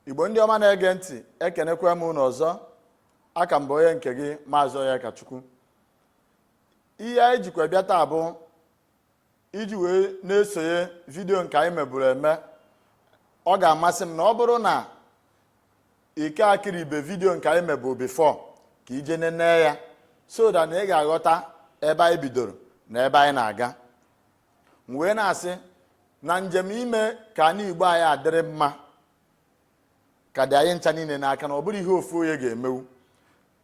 igbo ndị ọma na-ege ntị ekenekwa m unu ọzọ aka m bụ onye nke gị maazị onyekachukwu ihe anyị jikwa bịa taa bụ iji wee na-esonye vidiyo nke anyị meburu eme ọ ga-amasị m na ọ bụrụ na i ka ekiribe vidiyo nke anyị meburu before ka i je nene ya so that na ị ga-aghọta ebe anyị bidoro na ebe anyị na-aga m wee na-asị na njem ime ka anị igbo anyị adịrị mma ka dị anyị ncha niile n'aka na ọ bụrọ ihe ofu onye ga-emewu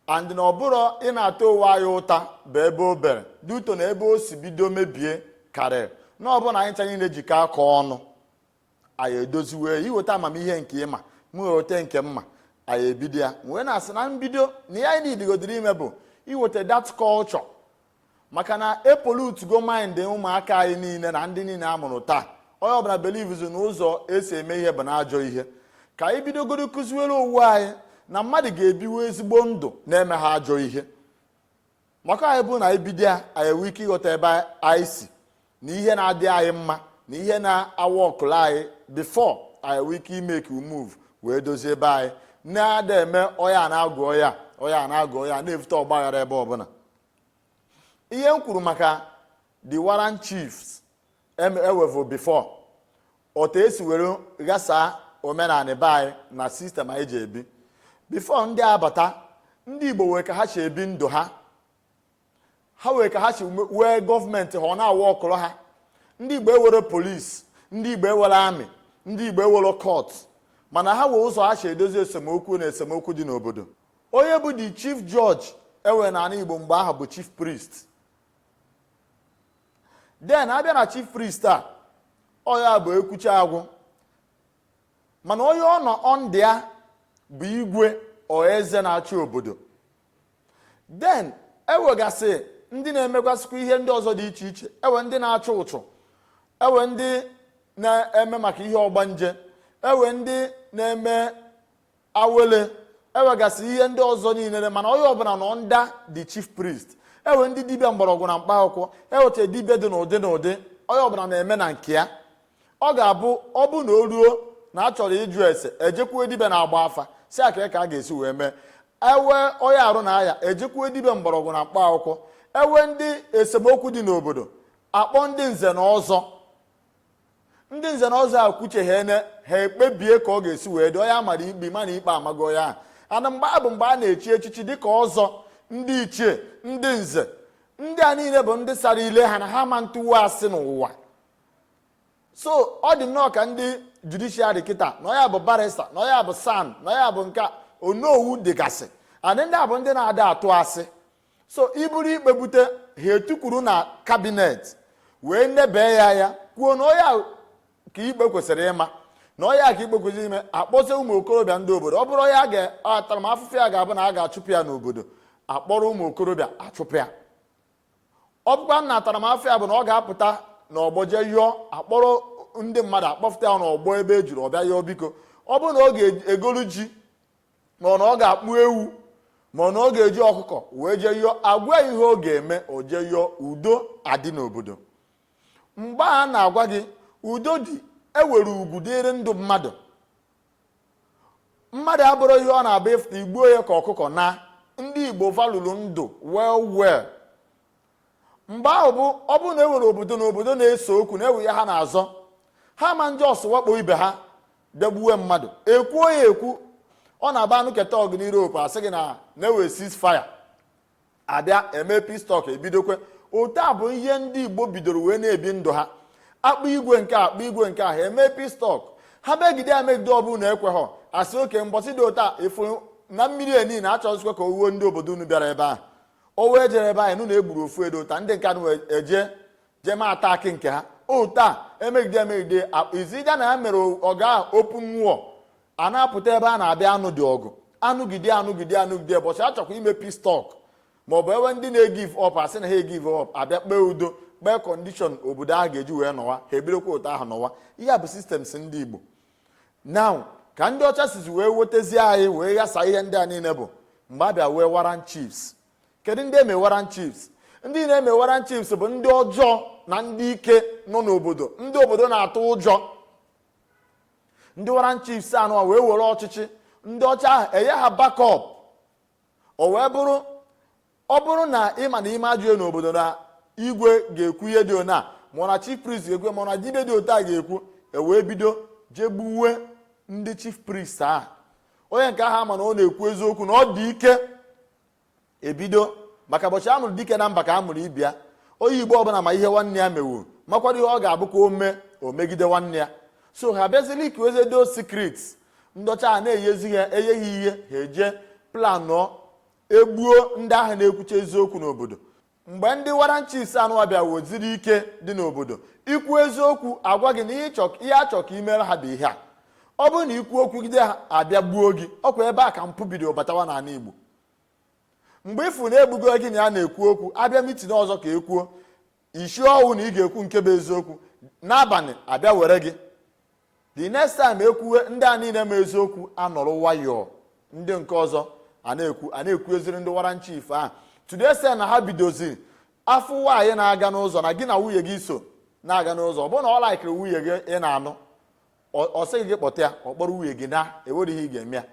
and na ọ bụrọ ịna-ata onwe anyị ụta bụ ebe o bere dị ụtọ na ebe o si bido mebie karịa na ọ bụrụ na anyị ncha niile jikọ aka ọnụ anyị edoziwe i weta amamihe nke ị ma m weta nke m ma anyị ebido ya m wee na-asị na mbido na ihe anyị nidigodoro ime bụ iweta that culture maka na e pollutugo mind ụmụaka anyị niile na ndị niile a mụrụ taa onye ọbụla believezi na ụzọ e si eme ihe bụ n'ajọ ihe ka anyị bidogoro kụziwere onwe anyị na mmadụ ga-ebiwe ezigbo ndụ na-emeha ajọ ihe maka ọ bụ na anyị bido ya anyị enwe ike ịghọta ebe anyị si na ihe na-adị anyị mma na ihe na-awọkụla anyị before anyị enwe ike imake move wee dozie ebe anyị na-ada eme ọya na-agụ ọya ọya na-agụ ọya na-evute ọgbaghara ebe ọbụla ihe m kwuru maka the warrant chiefs ewevu before otu e si were ghasaa omenala be anyị na system anyị ji ebi before ndị a abata ndị igbo wee ka ha si ebi ndụ ha ha wee ka ha si wee gọọmenti ha ọ na-awọkụrụ ha ndị igbo ewero police ndị igbo ewero army ndị igbo ewero court mana ha wee ụzọ ha si edozi esemokwu na esemokwu dị n'obodo onye bụ the chief judge enwere n'ala igbo mgbe ahụ bụ chief priest then abịa na chief priest a ọ ya bụ ekwucha agwụ mana onye ọ nọ under ya bụ igwe or eze na-achị obodo then ewegasị ndị na-emegasịkwa ihe ndị ọzọ dị iche iche ewe ndị na-achụ uchu ewe ndị na-eme maka ihe ọgbanje ewe ndị na-eme awele ewegasị ihe ndị ọzọ niile mana onye ọbụla nọ under the chief priest ewe ndị dibịa mgbọrọgwụ na mkpa akwụkwọ ewecha dibịa dị n'ụdị n'ụdị onye ọbụla na-eme na nke ya ọ ga-abụ ọ bụ na o ruo na a chọrọ ịjụ ese ejekwuo dibịa na-agba afa sị ya kaa ka a ga-esi wee mee ewe onye arụ na-aya ejekwuo dibịa mgbọrọgwụ na mkpa akwụkwọ ewe ndị esemokwu dị n'obodo akpọ ndị nze na ọzọ ndị nze na ọzọ a kwucheghe ne ha ekpebie ka ọ ga-esi wee dị onye amara ikpe ma na ikpe amago onye ahụ and mgbe a bụ mgbe a na-echi echichi dịka ọzọ ndị ichie ndị nze ndị a niile bụ ndị sara ile ha na ha ma ntụwa asị n'ụwa so ọ dị nnọọ ka ndị judishiari kịta na onye a bụ barista na onye a bụ san na onye a bụ nke onowu dịgasị and ndị a bụ ndị na-ada atụ asị so i buru ikpe bute ha etukwuru na kabinet wee nebe ya anya kwuo na onye a ka ikpe kwesịrị ịma na onye a ka ikpe kwesịrị ịma akpọzie ụmụ okorobịa ndị obodo ọ bụrụ onye ntaramafụfụ ya ga-abụ na a ga-achụpụ ya n'obodo akpọrọ ụmụ okorobịa achụpụ ya ọ bụkwa na ntaramafụfụ ya bụ na ọ ga-apụta na ọgbọ jee yọọ akpọrọ ndị mmadụ akpọfụta ya n'ọgbọ ebe e juru ọ bịa yọọ biko ọ bụrụ na ọ ga-egolu ji ma ọ na ọ ga-akpụ ewu ma ọ na ọ ga-eji ọkụkọ wee jee yọọ agwa ihe ọ ga-eme o jee yọọ udo adị n'obodo mgbe a na-agwa gị udo dị e nwere ugwu dịrị ndụ mmadụ mmadụ abụrọ ihe ọ na-abụ ị fụta i gbuo ya ka ọkụkọ na ndị igbo valụrụ ndụ well well mgbe ahụ bụ ọ bụrụ na e nwere obodo na obodo na-ese okwu na e nwe ihe ha na-azọ ha ma nje ọsọ wakpo ibe ha jee gbuwe mmadụ ekwuo ya ekwu ọ na-abụ anụkata ọgụ n'Europe asị gị na e nwee ceasefire abịa eme peace talk ebidokwa otu a bụ ihe ndị Igbo bidoro wee na-ebi ndụ ha akpọ igwe nke a akpọ igwe nke ahụ eme peace talk ha megide ya megide ọ bụrụ na ekweghị asị okay mbọsị dị otu a afụ na mmiri eni na achọzikwa ka owuo ndị obodo unu bịara ebe ahụ o wee jere ebe anyị nụ na egburu ofu edo ụta ndị nke anụ eje jee mee atakị nke ha otu a emegide emegide izija na ya mere ọgụ ahụ open war a na-apụta ebe a na-abịa anụ dị ọgụ anụgide anụgide anụgide bọchị achọkwa ime peace talk ma ọ bụ e nwee ndị na-egive up asị na ha egive up abịa kpee udo kpee kọndishọn obodo ahụ ga-eji wee nọwa ha ebirikwa otu ahụ nọwa ihe a bụ sistem ndị Igbo now ka ndị ọcha sizi wee wetezie anyị wee ghasa ihe ndị a niile bụ mgbe abịa nwee warrant chiefs kedu ndị e mere warrant chiefs ndị a na-eme warrant chiefs bụ ndị ọjọọ na ndị ike nọ n'obodo ndị obodo na-atụ ụjọ ndị warrant chiefs a nọ wee were ọchịchị ndị ọcha ahụ enye ha bakọp o wee bụrụ ọ bụrụ na ị ma na i mee ajọ ihe n'obodo na igwe ga-ekwu ihe dị ona ma na chief priest ga-ekwu ma na dibia dị otu a ga-ekwu ewee bido jee gbuwe ndị chief priest ahụ onye nke ahụ a ma na ọ na-ekwu eziokwu na ọ dị ike ebido maka ụbọchị a mụrụ dike na mba ka a mụrụ ibe ya onye igbo ọbụla ma ihe nwanne ya mewu makwara ihe ọ ga-abụ ka o mee o megide nwanne ya so ha bịazi leakiwezie those sikrit ndị ọcha a na-enyezi ha enye ha ihe ha eje planụọ egbuo ndị ahụ na-ekwucha eziokwu n'obodo mgbe ndị warrant chiefs anụwa bịa weziri ike dị n'obodo i kwuo eziokwu a gwa gị na ihe a chọrọ ka i meere ha bụ ihe a ọ bụrụ na i kwuo okwu gide ha a bịa gbuo gị ọ kwa ebe a ka mpụ bido batawa n'ala igbo mgbe ị fụ na e gbugo gị na ya na-ekwu okwu a bịa meeting ọzọ ka ekwuo isi ọnwụ na ị ga-ekwu nke bụ eziokwu n'abalị a bịa were gị the next time e kwuwe ndị a niile ma eziokwu anọrọ nwayọọ ndị nke ọzọ a na-ekwu a na-ekwu eziri ndị warrant chief ahụ today sị na ha bidoziri a fụ nwaanyị na-aga n'ụzọ na gị na nwunye gị so na-aga n'ụzọ ọ bụrụ na ọ like-ịrị nwunye gị ị na-anụ ọ sị gị gị kpọta ya ọ kpọrọ nwunye gị naa enwerọ ihe ị ga-eme ya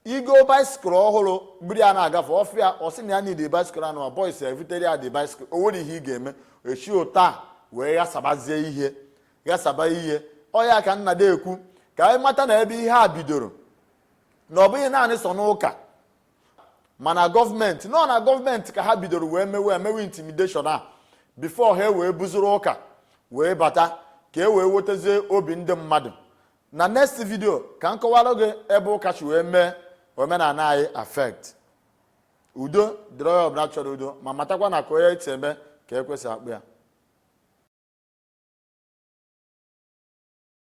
ị goo bicycle ọhụrụ buru ya na-agafe ọ fụ ya ọ sị na ya need bicycle anụ ụmụ boys ya ebutere ya the bicycle o nwerọ ihe ị ga-eme e si otu a wee ghasabazie ihe ghasaba ihe ọ ya ka m na-adị ekwu ka anyị mata na ebe ihe a bidoro na ọ bụghị naanị sọ n'ụka mana government nọ na government ka ha bidoro wee mewe emewe intimidation a before ha wee buziri ụka wee bata ka e wee wetezie obi ndị mmadụ na next video ka m kọwara gị ebe ụka si wee mee omenala anyị affect udo dịrị onye ọbụla chọrọ udo ma matakwa na ka onye eti eme ka e kwesị akpọ ya